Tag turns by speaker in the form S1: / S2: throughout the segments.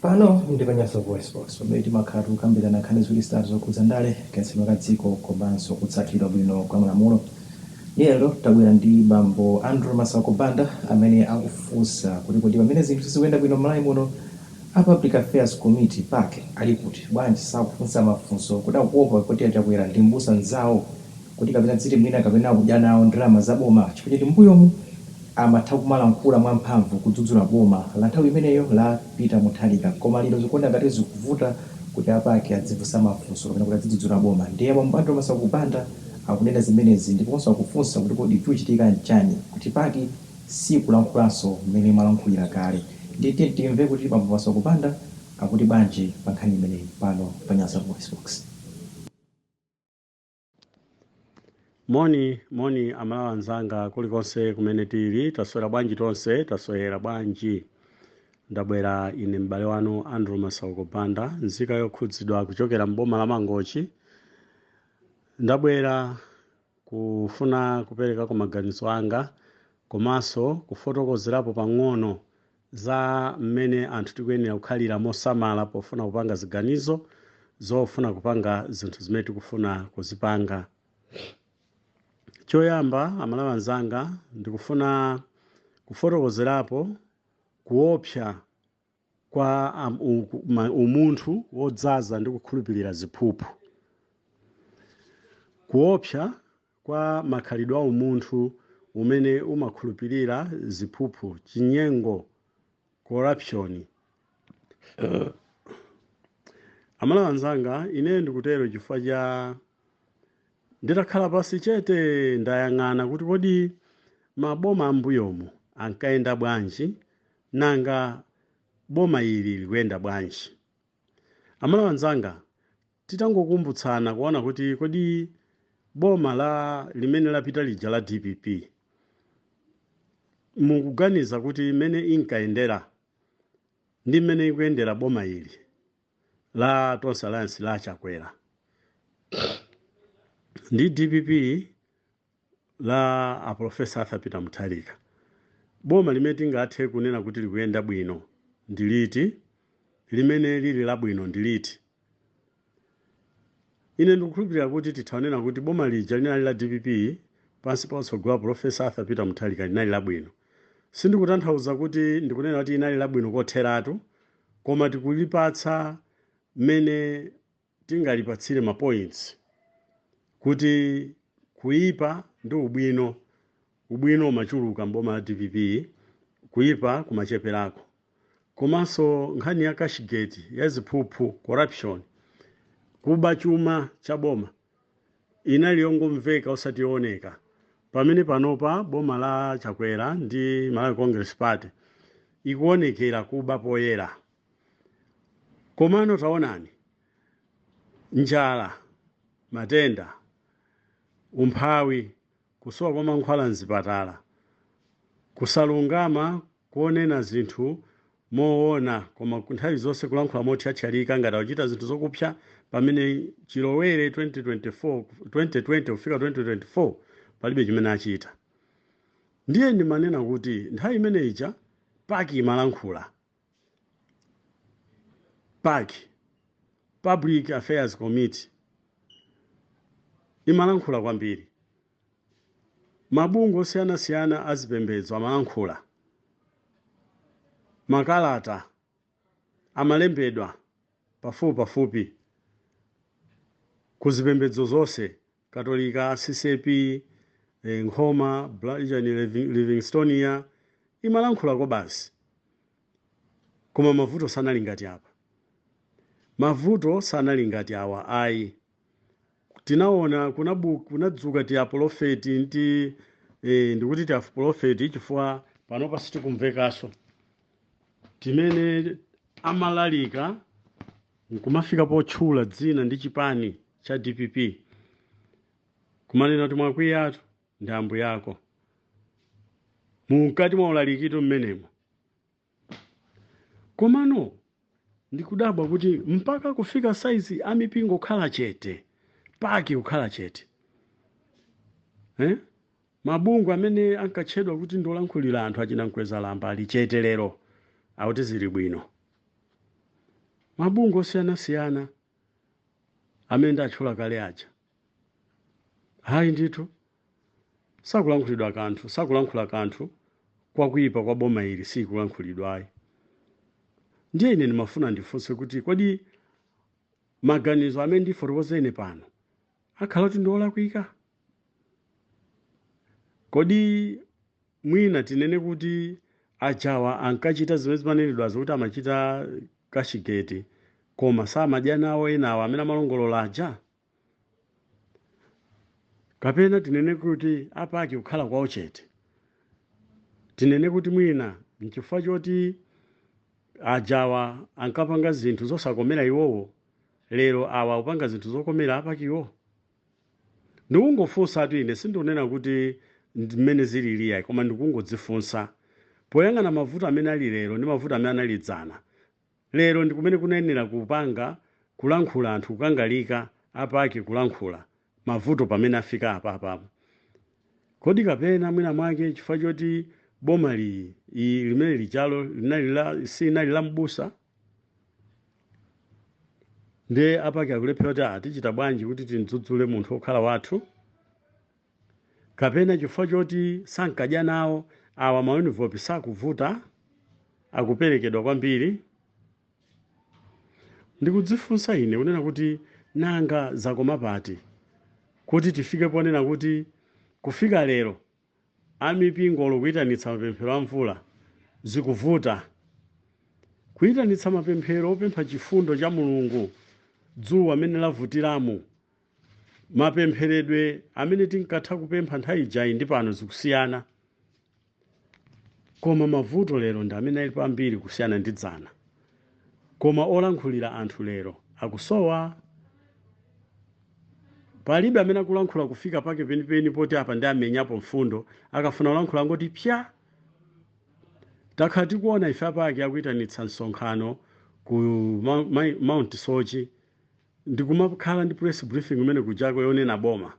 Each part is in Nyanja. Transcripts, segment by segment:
S1: Pano ndi pa Nyasa VoiceBox, pamene timakhala tikukambirana nkhani ziwiri zitatu zokhudza ndale, kayendetsedwe ka dziko komanso kutsatidwa bwino kwa malamulo. Lero tabwera ndi bambo Andrew Masauko Banda amene akufunsa kuti kodi pamene zinthu sizikuyenda bwino m'Malawi muno, a Public Affairs Committee, pac, ali kuti? Bwanji sakufunsa mafunso? Kuti akuopa kuti a Chakwera ndi m'busa mzawo? kuti kapena dziti mwina kapena akudya nawo ndalama za boma chifukwa choti mmbuyomu amatha kumalankhula mwamphamvu kudzudzula boma la nthawi imeneyo la Peter Mutharika koma lero zikuoneka ngati zikuvuta kuti a pac adzifunsa mafunso kapena kuti adzidzudzula boma ndiye bambo Andrew Masauko Banda akunena zimenezi ndiponso akufunsa kuti kodi chikuchitika nchani kuti pac siikulankhulanso mmene imalankhulira kale ndiye tiyeni timve kuti bambo Masauko Banda akuti bwanji pa nkhani imeneyi pano pa Nyasa VoiceBox.
S2: moni moni amalawi anzanga kulikonse kumene tili taswera bwanji tonse taswera bwanji ndabwera ine m'bale wanu andrew masauko banda nzika yokhudzidwa kuchokera mboma la mangochi ndabwera kufuna kuperekako maganizo anga komanso kufotokozerapo pang'ono za mmene anthu tikuyenera kukhalira mosamala pofuna kupanga ziganizo zofuna kupanga zinthu zimene tikufuna kuzipanga choyamba amalawi anzanga ndikufuna kufotokozerapo kuopsa kwa umunthu wodzaza ndi kukhulupirira ziphuphu kuopsa kwa makhalidwe a umunthu umene umakhulupirira ziphuphu, chinyengo, corruption. Amalawi anzanga, ineyo ndikutero chifukwa cha nditakhala pansi chete ndayang'ana kuti kodi maboma ambuyomu ankayenda bwanji nanga boma ili likuyenda bwanji. Amalawi anzanga, Titangokumbutsana kuona kuti kodi boma la limene lapita lija la dpp mukuganiza kuti mmene inkayendera ndi mmene ikuyendera boma ili la Tonse Alliance la Chakwera ndi dpp la a Professor Arthur Peter Mutharika, boma limene tingathe kunena kuti likuyenda bwino ndi liti? Limene lili labwino ndi liti? Ine ndikukhulupirira kuti titha kunena kuti boma lija linali la dpp pansi pa utsogoleri wa Professor Arthur Peter Mutharika linali labwino. Sindikutanthauza kuti ndikunena kuti linali labwino kotheratu, koma tikulipatsa mmene tingalipatsire mapoints kuti kuipa ndi ubwino ubwino umachuluka m'boma la dpp kuipa kumacheperako komanso nkhani ya cashgate ya ziphuphu corruption kuba chuma cha boma inali yongomveka osati yooneka pamene panopa boma la chakwera ndi malawi congress party ikuonekera kuba poyera Komano taonani, njala, matenda, umphawi, kusowa kwa mankhwala m'zipatala, kusalungama ponena zinthu moona koma nthawi zonse kulankhula mothyathyalika ngati akuchita zinthu zokupsya pamene chilowere 2020 kufika 2024 palibe chimene achita. Ndiye ndimanena kuti nthawi imene ija PAC imalankhula. PAC, Public Affairs Committee, imalankhula kwambiri. Mabungwe osiyanasiyana a zipembedzo amalankhula. Makalata amalembedwa pafupipafupi ku zipembedzo zonse katolika ccap eh, nkhoma bla- chani Living- livingstonia imalankhula kwa basi koma mavuto sanali ngati apa mavuto sanali ngati awa ayi tinaona kunabu- kunadzuka tiapolofeti nti eh, ndikuti tiapolofeti chifukwa panopa sitikumvekaso timene amalalika nkumafika potchula dzina ndi chipani cha dpp kumanena kuti mwakwiyatu ndi mbuyako mumkati mwa ulalikitu mmenemo komano ndikudabwa kuti mpaka kufika saizi amipingo kukhala chete pac kukhala chete eh? mabungwe amene ankatchedwa kuti ndi olankhulira anthu achina mkwezalamba ali chete lero akuti zili bwino mabungwe osiyanasiyana amene ndatchula kale aja? Ayi ndithu, sakulankhulidwa kanthu, sakulankhula kanthu kwakuipa kwa boma ili sikulankhulidwa ayi. Ndiye ine ndimafuna ndifunse kuti kodi maganizo amene ndifotokoze ine pano akhala kuti ndi olakwika? Kodi Mwina tinene kuti ajawa ankachita zimene zimanenedwazo kuti amachita cashgate koma samadya nawo enawa amene amalongolola aja? Kapena tinene kuti a Paki kukhala kwawo chete, tinene kuti mwina n'chifukwa choti ajawa ankapanga zinthu zosakomera iwowo, lero awa akupanga zinthu zokomera a Pakiwo? Ndikungofunsatu ine sindikunena kuti ndi mmene zilili iyayi koma ndikungodzifunsa poyang'ana mavuto amene ali lero ndi mavuto amene anali dzana lero ndi kumene kunayenera kupanga kulankhula anthu kukangalika a Paki kulankhula mavuto pamene afika apapa kodi kapena mwina mwake chifukwa choti boma li, i limene lijalo silinali la m'busa ndiye a Paki akulephera kuti "Ah, tichita bwanji kuti timdzudzule munthu wokhala wathu kapena chifukwa choti sankadya nawo awa ma envelope sakuvuta akuperekedwa kwambiri ndikudzifunsa ine kunena kuti nanga zakoma pati kuti tifike ponena kuti kufika lero a mipingo olo kuitanitsa mapemphero a mvula zikuvuta. Kuitanitsa mapemphero opempha chifundo cha Mulungu dzuwa mmene lavutiramu, mapempheredwe amene tinkatha kupempha nthawi ijayi ndi pano zikusiyana. Koma mavuto lero ndi amene alipo ambiri kusiyana ndi dzana. Koma olankhulira anthu lero akusowa. Palibe amene akulankhula kufika pake penipeni poti apa ndiye amenyapo mfundo, akafuna kulankhula angoti psa! Takhala tikuona ife a Paki akuitanitsa msonkhano ku Mount Soche ndi kumakhala ndi press briefing kumene kujako yonena boma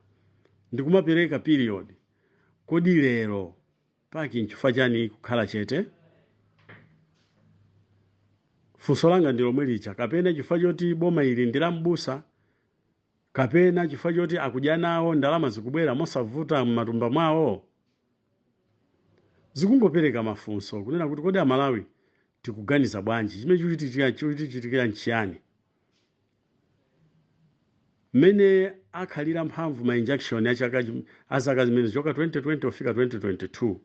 S2: ndi kumapereka period. Kodi lero. Paki, Nchifukwa chani kukhala chete? Funso langa ndi lomwe lija, kapena chifukwa choti boma ili ndi la m'busa, kapena chifukwa choti akudya nawo, ndalama zikubwera mosavuta m'matumba mwawo? Zikungopereka mafunso kunena kuti kodi a Malawi tikuganiza bwanji? Chimene chikutichitikira nchiyani? mmene akhalira mphamvu ma injunction a chaka chim- a zaka zimene kuchoka 2020 kufika 2022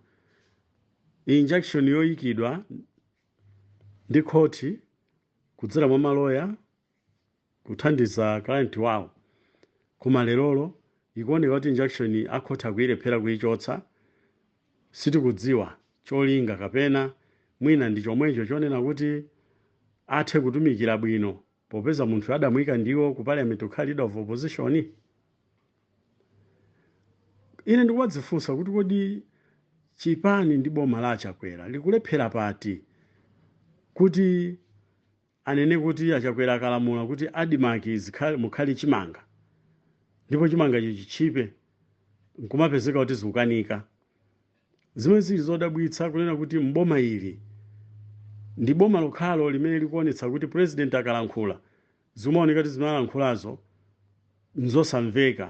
S2: injunction yoyikidwa ndi khoti kudzera mwa maloya kuthandiza client wawo koma lerolo ikuoneka kuti injunction akhoti akuyilephera kuyichotsa sitikudziwa cholinga kapena mwina ndi chomwecho chonena kuti athe kutumikira bwino popeza munthuyo adamuika ndiwo ku parliament kukhala leader of opposition? Ine ndikumadzifunsa kuti kodi chipani ndi boma la Achakwera likulephera pati kuti anene kuti Achakwera akalamula kuti m'Admarc mukhale chimanga ndipo chimangacho chitchipe nkumapezeka kuti zikukanika. Zimene zili zodabwitsa kunena kuti m'boma ili ndi boma lokhalo limene likuonetsa kuti president akalankhula zimaoneka kuti zimene alankhulazo nzosamveka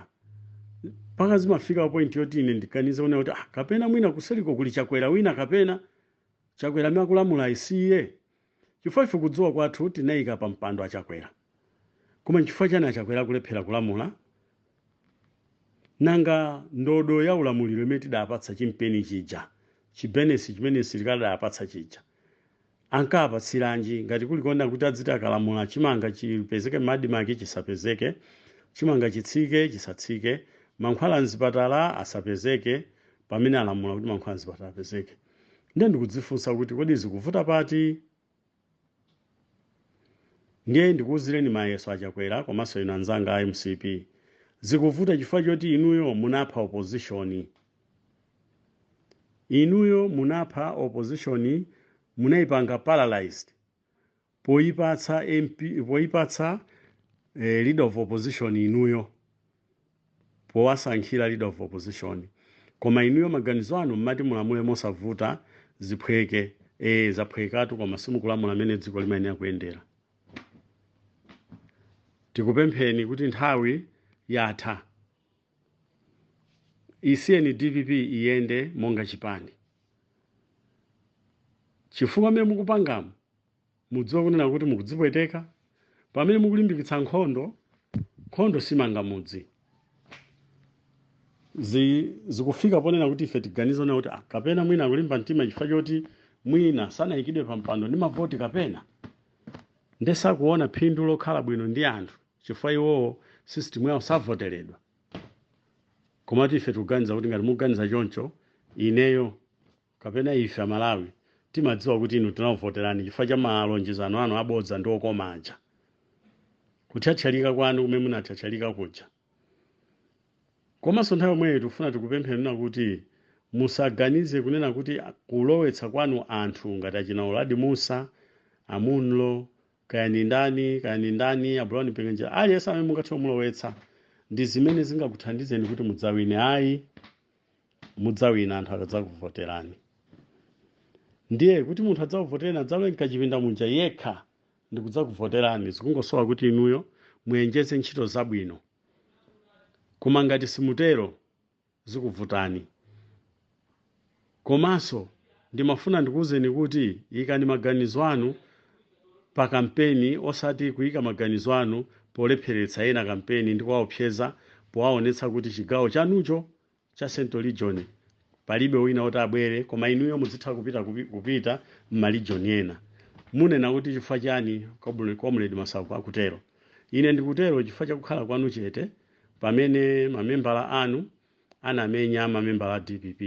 S2: mpaka zimafika point yoti ine ndiganize kunena kuti ah, kapena mwina kuseliko kuli chakwera wina kapena chakwera amene akulamulayi si iye Chifukwa ife kudziwa kwathu tinaika pa mpando a Chakwera. Koma nchifukwa chani a Chakwera akulephera kulamula? Nanga ndodo ya ulamuliro imene tidapatsa chimpeni chija, chibenesi chimene msilikali adawapatsa chija, ankawapatsiranji ngati kuli konena kuti adziti akalamula chimanga chipezeke m'Admarc chisapezeke, chimanga chitsike chisatsike, mankhwala mzipatala asapezeke pamene alamula kuti mankhwala mzipatala apezeke? ndiye ndikudzifunsa kuti kodi zikuvuta pati ndiye ndikuwuzireni mayeso achakwera komanso inu anzanga a mcp zikuvuta chifukwa choti inuyo munapha opposition inuyo munapha opposition munayipanga paralyzed poipatsa MP poipatsa eh, leader of opposition inuyo powasankhira leader of opposition koma inuyo maganizo anu mmati mulamule mosavuta ziphweke eh zaphwekatu koma simukulamula mmene dziko limayenera kuyendera tikupempheni kuti nthawi yatha isiyeni dpp iyende monga chipani chifukwa mmene mukupangamo Mudziwe kunena kuti mukudzipweteka pamene mukulimbikitsa nkhondo. Nkhondo simanga mudzi. Zi, zikufika ponena kuti ife tiganize kunena kuti ah, kapena mwina akulimba mtima chifukwa choti mwina sanayikidwe pa mpando ndi mavoti kapena nde sakuona phindu lokhala bwino ndi anthu chifukwa iwowo system yawo savoteredwa. Komatu ife tikuganiza kuti ngati mukuganiza choncho, ineyo kapena ife amalawi timadziwa kuti inu tinakuvoterani chifukwa cha malonjezano anu abodza ndi okoma aja kuthyathyalika kwanu kumene munathyathyalika kuja komanso nthawi yomweyo tikufuna tikupempheni kunena kuti musaganize kunena kuti a- kulowetsa kwanu anthu ngati achina uladi musa amunlo kaya ni ndani kaya ni ndani a brown mpinganjira aliyense amene mungathe kumulowetsa ndi zimene zingakuthandizeni kuti mudzawine ayi mudzawina anthu akadzakuvoterani ndiye kuti munthu adzakuvotereni adzalowe mkachipinda muja yekha ndikudzakuvoterani zikungosowa kuti inuyo muonjeze ntchito zabwino koma ngati simutero zikuvutani komanso ndimafuna ndikuwuzeni kuti ikani maganizo anu pa kampeni osati kuika maganizo anu polepheretsa ena kampeni ndi kuwaopseza powaonetsa kuti chigawo chanucho cha central region palibe wina oti abwere koma inuyo muzitha kupita m'ma region ena munena kuti chifukwa chiyani Comrade Masauko akutero ine ndikutero chifukwa chakukhala kwanu chete pamene mamembala anu anamenya mamembala a dpp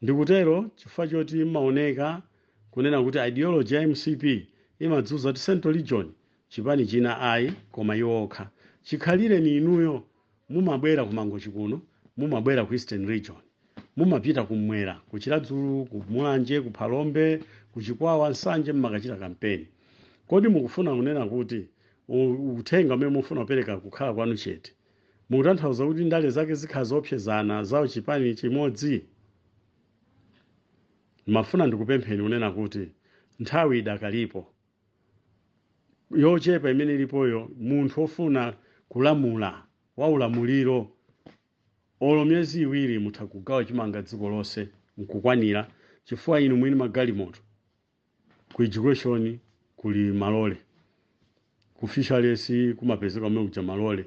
S2: Ndikutero chifukwa choti mumaoneka kunena kuti ideology ya mcp imadzuza kuti central region chipani china ayi koma iwo okha. Chikhalireni inuyo mumabwera ku Mangochi kuno, mumabwera ku eastern region, mumapita kummwera ku Chiradzulu, ku Mulanje, ku Phalombe, ku Chikwawa, Nsanje mmakachita kampeni. Kodi mukufuna kunena kuti uthenga umene mukufuna kupereka kukhala kwanu chete? Mukutanthauza kuti ndale zake zikhala zoopsezana zao chipani chimodzi? Ndimafuna ndikupempheni kunena kuti nthawi idakalipo yochepa imene ilipoyo, munthu ofuna kulamula wa ulamuliro olo myezi iwiri mutha kugawa chimanga dziko lonse nkukwanira chifukwa inu mwini magalimoto. Ku education kuli malole, ku fisheries kumapezeka kumene kuja malole,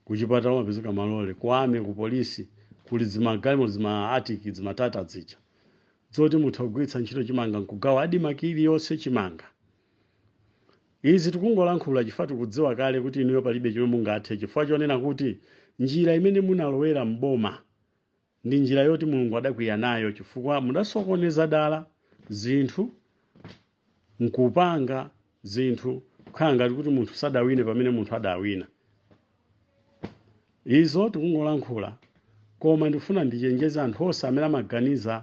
S2: kuchipatala kumapezeka malole, ku army, ku police kuli zimagalimoto zima artic zima Tata zija zoti mutha kugwiritsa ntchito chimanga nkugawa admarc iliyonse chimanga. Izi tikungolankhula chifukwa tikudziwa kale kuti inuyo palibe chomwe mungathe chifukwa chonena kuti njira imene munalowera m'boma Ndi njira yoti Mulungu adakwiya nayo chifukwa mudasokoneza dala zinthu nkupanga zinthu kukhala ngati kuti munthu sadawine pamene munthu adawina. Izo tikungolankhula koma ndikufuna ndichenjeze anthu onse amene amaganiza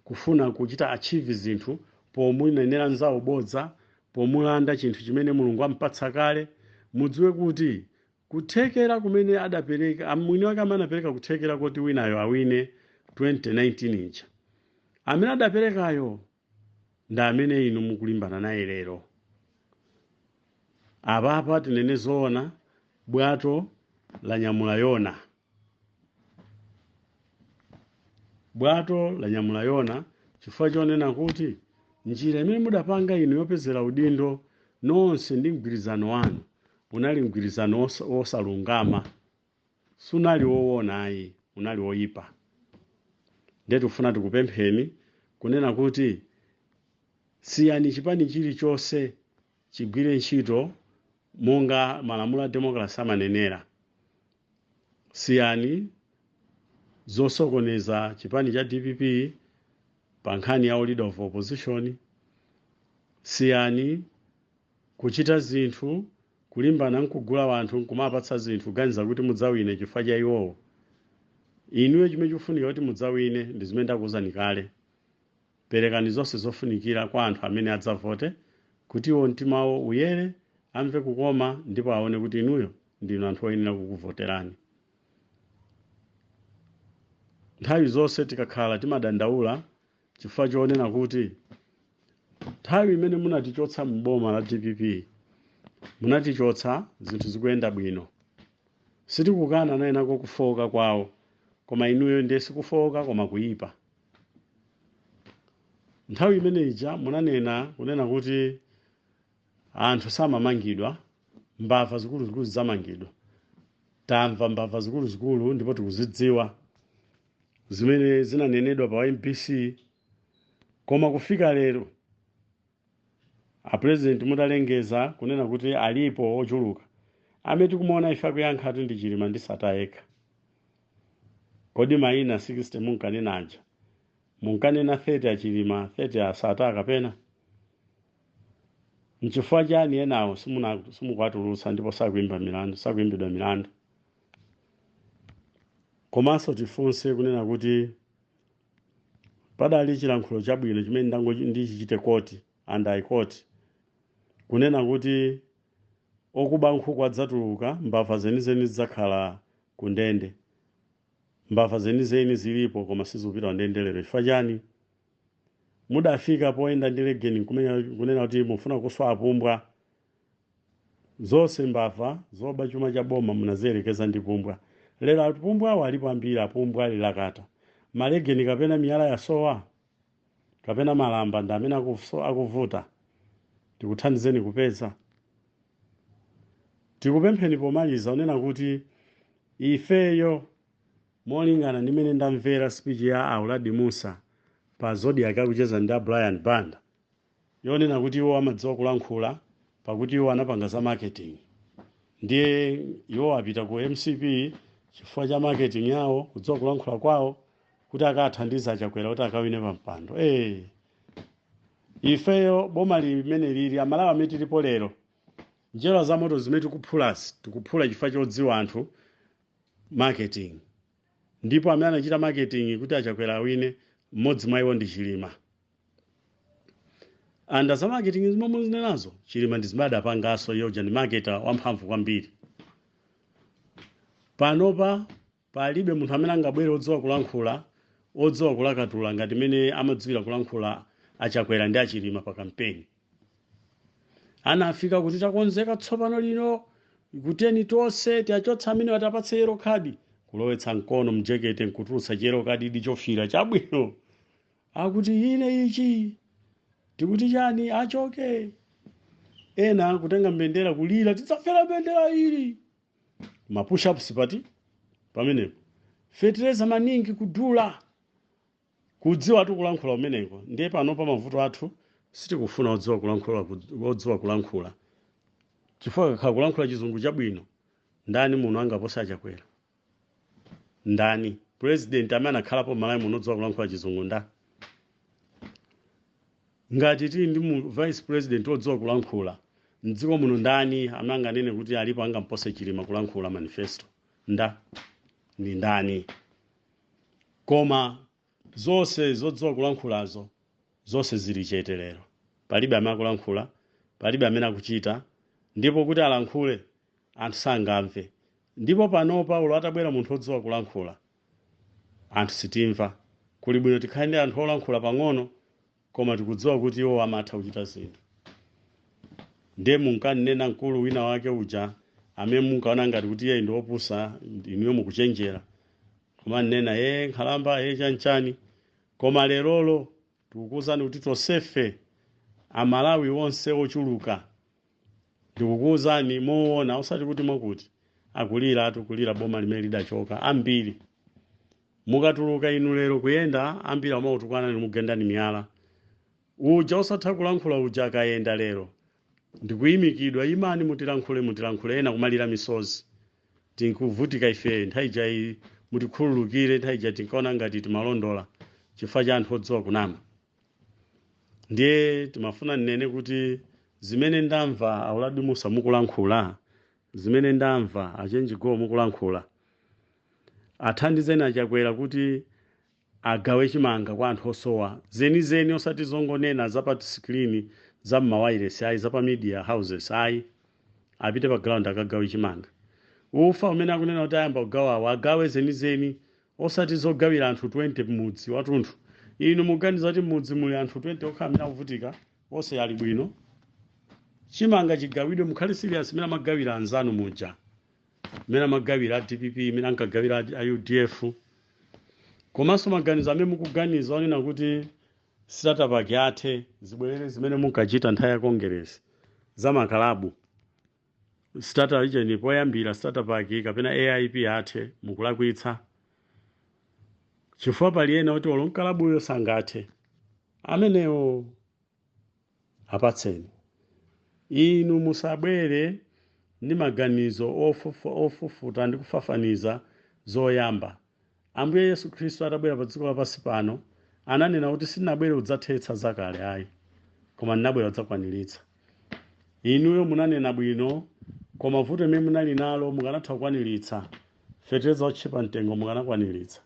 S2: kufuna kuchita achieve zinthu pomunenera nzawo bodza, pomulanda chinthu chimene Mulungu ampatsa kale, mudziwe kuti Kuthekera kumene adapereka, mwini wake amene anapereka kuthekera koti winayo awine 2019 ija, amene adaperekayo ndi amene inu mukulimbana naye lero. Apapa tinene zoona, bwato lanyamula Yona. bwato lanyamula yona chifukwa chonena kuti njira imene mudapanga inu yopezera udindo nonse ndi mgwirizano wanu unali mgwirizano wosalungama sunali wowona ayi unali woyipa ndiye tikufuna tikupempheni kunena kuti siyani chipani chilichonse chigwire ntchito monga malamulo a democracy amanenera siyani zosokoneza chipani cha dpp pa nkhani ya leader of opposition siyani kuchita zinthu kulimbana nkugula wanthu nkumapatsa zinthu kuganiza kuti mudzawine chifukwa cha iwowo inuyo chimene chikufunika kuti mudzawine ndi zimene ndakuwuzani kale Perekani zonse zofunikira kwa anthu amene adzavote, kuti iwo mtima wawo uyere, amve kukoma, ndipo aone kuti inuyo ndinu anthu oyenera kukuvoterani. Nthawi zonse tikakhala timadandaula chifukwa chonena kuti nthawi imene munatichotsa m'boma la dpp munatichotsa zinthu zikuyenda bwino. Sitikukana nawo anako kufowoka kwawo, koma inuyo ndiye sikufowoka koma kuyipa. nthawi imene ija munanena kunena kuti anthu samamangidwa mbava zikuluzikulu zidzamangidwa tamva mbava zikuluzikulu ndipo tikuzidziwa zimene zinanenedwa pa mbc koma kufika lero a president mutalengeza kunena kuti alipo ochuluka amene tikumuona ife akuyankha ati ndi chilima ndi sata yekha kodi maina 60 munkanena aja munkanena 30 achilima 30 asata kapena nchifukwa chani enawo simukuwatulutsa ndipo sakuimbidwa milandu komanso tifunse kunena kuti padali chilankhulo chabwino chimene ndichichite quote and i quote kunena kuti okuba nkhuku adzatuluka mbava zenizeni zidzakhala ku ndende mbava zenizeni zilipo koma sizikupita ku ndende lero chifukwa chani mudafika poyenda ndi legeni kunena kuti mufuna kuswa apumbwa Zonse mbava zoba chuma cha boma munaziyerekeza ndi pumbwa. Lero apumbwawa alipo ambiri apumbwa ali lakata. Malegeni kapena miyala yasowa? Kapena malamba ndi amene akuvuta? Tikuthandizeni kupeza? Tikupempheni pomaliza kunena kuti ifeyo molingana ndi mene ndamvera speech ya a Uladi Mussa pa Zodiak akucheza ndi a Brian Banda. yonena kuti iwo amadziwa kulankhula pakuti iwo anapanga za marketing ndiye iwo apita ku mcp chifukwa cha marketing yawo kudziwa kulankhula kwawo kuti akathandize achakwera kuti akawine pa mpando hey. ifeyo boma limene lili amalawi mmene tilipo lero njerwa za moto zimene tikuphulazi tikuphula chifukwa chodziwa anthu marketing ndipo amene anachita marketing kuti achakwera awine mmodzi mwa iwo ndi chilima and za marketing zomwe mukuzinenazo chilima ndi zimene adapanganso iye uja ndi marketer wamphamvu kwambiri panopa palibe munthu amene angabwere odziwa kulankhula odziwa kulakatula ngati mmene amadziwira kulankhula achakwera ndi achilima pa kampeni anafika kuti takonzeka tsopano lino kuteni tonse tiachotsa amene watapatse yellow card kulowetsa mkono mjekete nkutulutsa chiyellow cardi chofira chabwino akuti ine ichi tikuti chani achoke ena kutenga mbendera kulira tidzafera mbendera ili mapushapu sipati pamenepo fetereza maningi kudula kudziwa tu kulankhula kumeneko ndiye panopa mavuto athu sitikufuna odziwa kulankhula odziwa kulankhula chifukwa kukakhala kulankhula chizungu chabwino ndani muno angapose achakwera ndani president amene anakhalapo malawi muno odziwa kulankhula chizungu nda ngati tili ndi vice president odziwa kulankhula mdziko muno ndani amene anganene kuti alipo angampose chilima kulankhula manifesto nda ndi ndani koma zonse zodziwa kulankhulazo zonse zili chete lero palibe amene akulankhula palibe amene akuchita ndipo kuti alankhule anthu sangamve. Ndipo panopa olo atabwera munthu odziwa kulankhula, anthu sitimva. Kuli bwino tikhale ndi anthu olankhula pang'ono koma tikudziwa kuti iwowo amatha kuchita zinthu. Ndiye munkanena mkulu wina wake uja amene munkaona ngati kuti iyeyi ndi wopusa, inuyo mukuchenjera. Kumanena, ee nkhalamba, ee chanichani. Koma lerolo tikukuuzani kuti tonsefe, Amalawi onse ochuluka, Ndikukuuzani moona, osati kuti mwakuti. Akuliratu, kulira boma limene lidachoka. Ambiri. Mukatuluka inu lero kuyenda, ambiri amakutukwanani nkukugendani miyala. Uja osatha kulankhula uja akayenda lero. Ndikuyimikidwa, imani mutilankhule, mutilankhule, ena kumalira misozi. Tinkuvutika ife, nthawi ija yi, mutikhululukire, nthawi ija tinkaona ngati timalondola chifukwa cha anthu odziwa kunama. ndiye timafuna nnene kuti zimene ndamva a Uladi Mussa mukulankhula zimene ndamva a Chenji Golo mukulankhula athandizeni achakwera kuti agawe chimanga kwa anthu osowa zenizeni osati zongonena za pa sikilini za mmawayiresi ayi za pa media houses ayi apite pa ground akagawe chimanga ufa umene akunena kuti ayamba kugawawo agawe zenizeni osati zogawira anthu 20 mmudzi watunthu inu muganiza kuti mmudzi muli anthu 20 okha amene akuvutika onse ali bwino chimanga chigawidwe mukhale serious mmene amagawira anzanu muja mmene amagawira a dpp mmene ankagawira a- a udf komanso maganizo amene mukuganiza onena kuti sitatapaki ithe zibwerere zimene munkachita nthawi ya kongeresi za makalabu Starter region poyambira starter pack kapena AIP ithe mukulakwitsa chifukwa pali ena oti olo mkalabuyo sangathe amenewo apatseni inu musabwere ndi maganizo ofufa- ofufuta ndi kufafaniza zoyamba Ambuye Yesu Khristu atabwera pa dziko lapansi pano, ananena kuti sindinabwere kudzathetsa zakale ayi, koma ndinabwera kudzakwaniritsa. Inuyo munanena bwino, koma vuto limene munali nalo mukanatha kukwaniritsa. Fetereza wotchipa mtengo mukanakwaniritsa.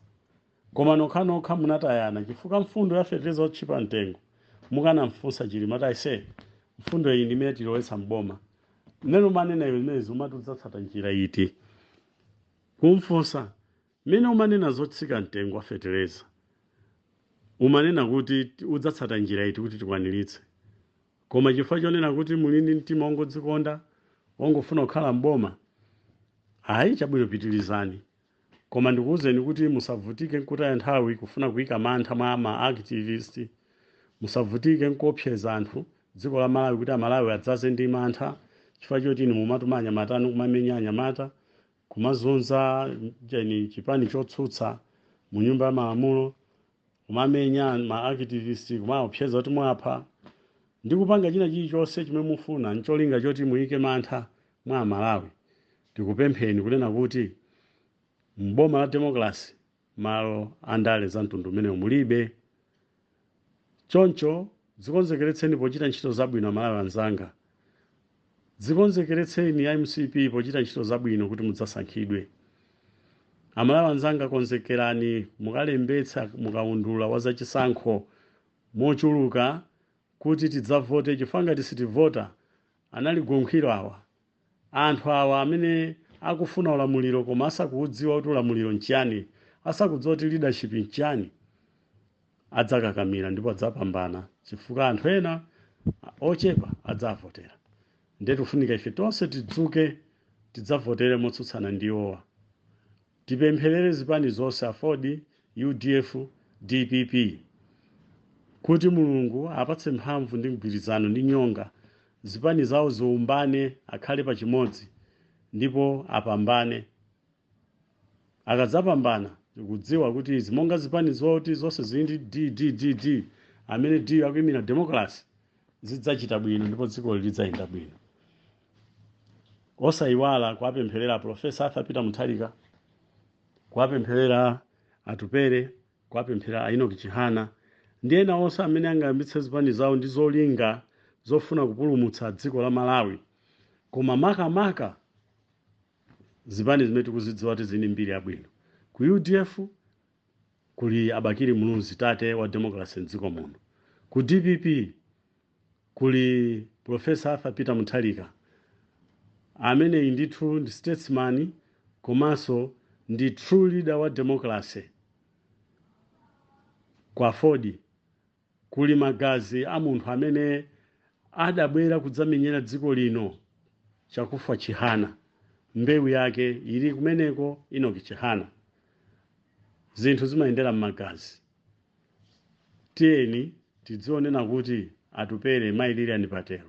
S2: Koma nokhanokha munatayana chifukwa mfundo ya fetereza wotchipa mtengo mukanamfunsa Chilima kuti aise mfundo iyi ndi imene tilowetsa m'boma. Mmene umanena iwe zimenezi umati udzatsata njira iti? Kumfunsa mmene umanena zotsika mtengo wa fetereza, umanena kuti udzatsata njira iti kuti tikwaniritse? Koma chifukwa chonena kuti muli ndi mtima wongodzikonda, wongofuna kukhala m'boma? Ayi, chabwino pitirizani. Koma ndikuuzeni kuti musavutike n'kutaya nthawi kufuna kuika mantha mwa ma activist. Musavutike n'kuopseza anthu dziko la Malawi kuti Amalawi adzaze ndi mantha chifukwa choti inu mumatuma anyamata anu kumamenya anyamata kumazunza chani chipani chotsutsa mu nyumba ya malamulo kumamenya ma activist kumaopseza kuti muwapha ndi kupanga china chilichonse chimene mufuna ncholinga choti muyike mantha mwa Amalawi tikupempheni kunena kuti m'boma la democracy malo a ndale za mtundu umenewo mulibe choncho dzikonzekeretseni pochita ntchito zabwino amalawi anzanga dzikonzekeretseni a mcp pochita ntchito zabwino kuti mudzasankhidwe amalawi anzanga konzekerani mukalembetsa mukaundula wa zachisankho mochuluka kuti tidzavote chifukwa ngati sitivota analigonkho awa Anthu awa amene akufuna ulamuliro koma asakuwudziwa kuti ulamuliro nchiyani, asakudziwa kuti leadership nchiyani, adzakakamira ndipo adzapambana chifukwa anthu ena ochepa adzawavotera. Ndiye tikufunika ife tonse tidzuke tidzavotere motsutsana ndi iwowa. Tipempherere zipani zonse aford, udf, dpp kuti Mulungu apatse mphamvu ndi mgwirizano ndi nyonga zipani zawo ziumbane akhale pa chimodzi ndipo apambane akadzapambana tikudziwa kuti izi monga zipani zoti zonse zili ndi D, D, D, D amene D akuimira democracy zidzachita bwino ndipo dzikoli lidzayenda bwino. osayiwala kuwapempherera aprofesa arthur peter mutharika kuwapempherera atupele kuwapempherera a enoch chihana ndi ena onse amene angayambitse zipani zawo ndi zolinga zofuna kupulumutsa dziko la malawi koma makamaka zipani zimene tikuzidziwa kuti zili ndi mbiri yabwino ku udf kuli a bakili muluzi tate wa democracy mdziko muno ku dpp Kuli Professor Arthur Peter Mutharika, ameneyi ndithu ndi statesman komanso ndi true leader wa democracy. Ku Aford kuli magazi a munthu amene adabwera kudzamenyera dziko lino, Chakufwa Chihana, mbewu yake ili kumeneko, Enoch Chihana. Zinthu zimayendera m'magazi. tiyeni tizionena kuti atupele mai lilian patel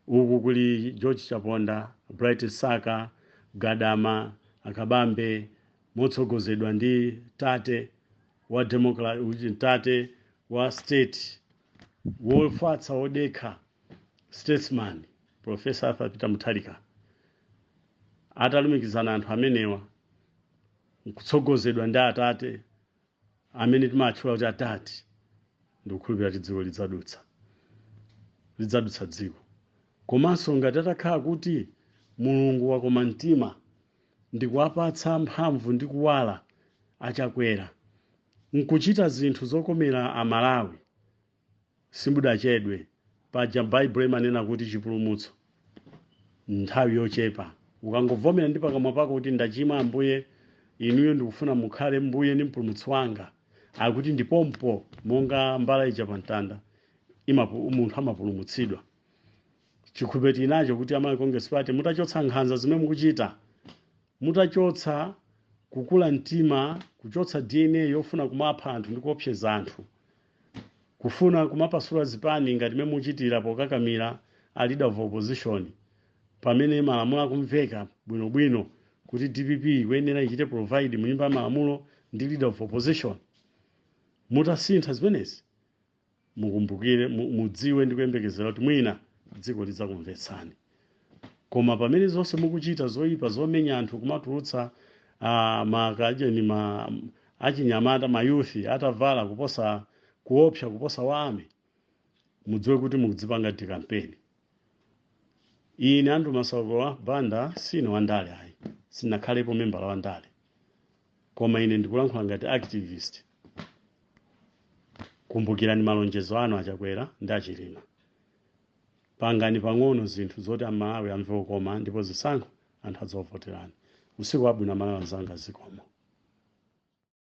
S2: uku kuli george chaponda bright msaka gadama akabambe motsogozedwa ndi tate wa democra- uchi- tate wa state wofatsa wodekha statesman profesa arthur peter mutharika atalumikizana anthu amenewa nkutsogozedwa ndi atate amene timatchula kuti atate ndikukhulupirira kuti dziko lidzadutsa lidzadutsa dziko komanso ngati atakhala kuti mulungu wakoma mtima ndikuwapatsa mphamvu ndi kuwala a chakwera nkuchita zinthu zokomera amalawi Simbudachedwe. Paja Baibulo imanena kuti chipulumutso n'nthawi yochepa. Ukangovomera ndi pakamwa pako kuti ndachimwa Ambuye, inuyo ndikufuna mukhale Mbuye ndi Mpulumutsi wanga, akuti ndi pompopompo monga mbala ija pa mtanda imapu, munthu amapulumutsidwa. Chikhulupiriro tili nacho kuti a Malawi Congress Party mutachotsa nkhanza zimene mukuchita, mutachotsa kukula mtima, kuchotsa DNA yofuna kumapha anthu ndi kuopseza anthu, Kufuna kumapasula zipani ngati mmene muchitira pokakamira a leader of opposition pamene malamulo akumveka bwino bwino kuti dpp ikuyenera ichite provide mu nyumba ya malamulo ndi leader of opposition. Mutasintha zimenezi mukumbukire, mu- mudziwe ndi kuyembekezera kuti mwina dziko lidzakumvetsani. Koma pamene zonse mukuchita zoipa zomenya anthu kumatulutsa uh, makajeni ma achinyamata mayuthi atavala kuposa kuopsa kuposa wa army mudziwe kuti mukudzipanga decampaign ine andrew masauko banda sine wandale ayi sinakhalepo membala wa ndale koma ine ndikulankhula ngati activist kumbukirani malonjezo anu achakwera ndi achilima Pangani pang'ono zinthu zoti a Malawi amve kukoma ndipo zisankho anthu adzakuvoterani. Usiku wabwino a Malawi anzanga zikomo.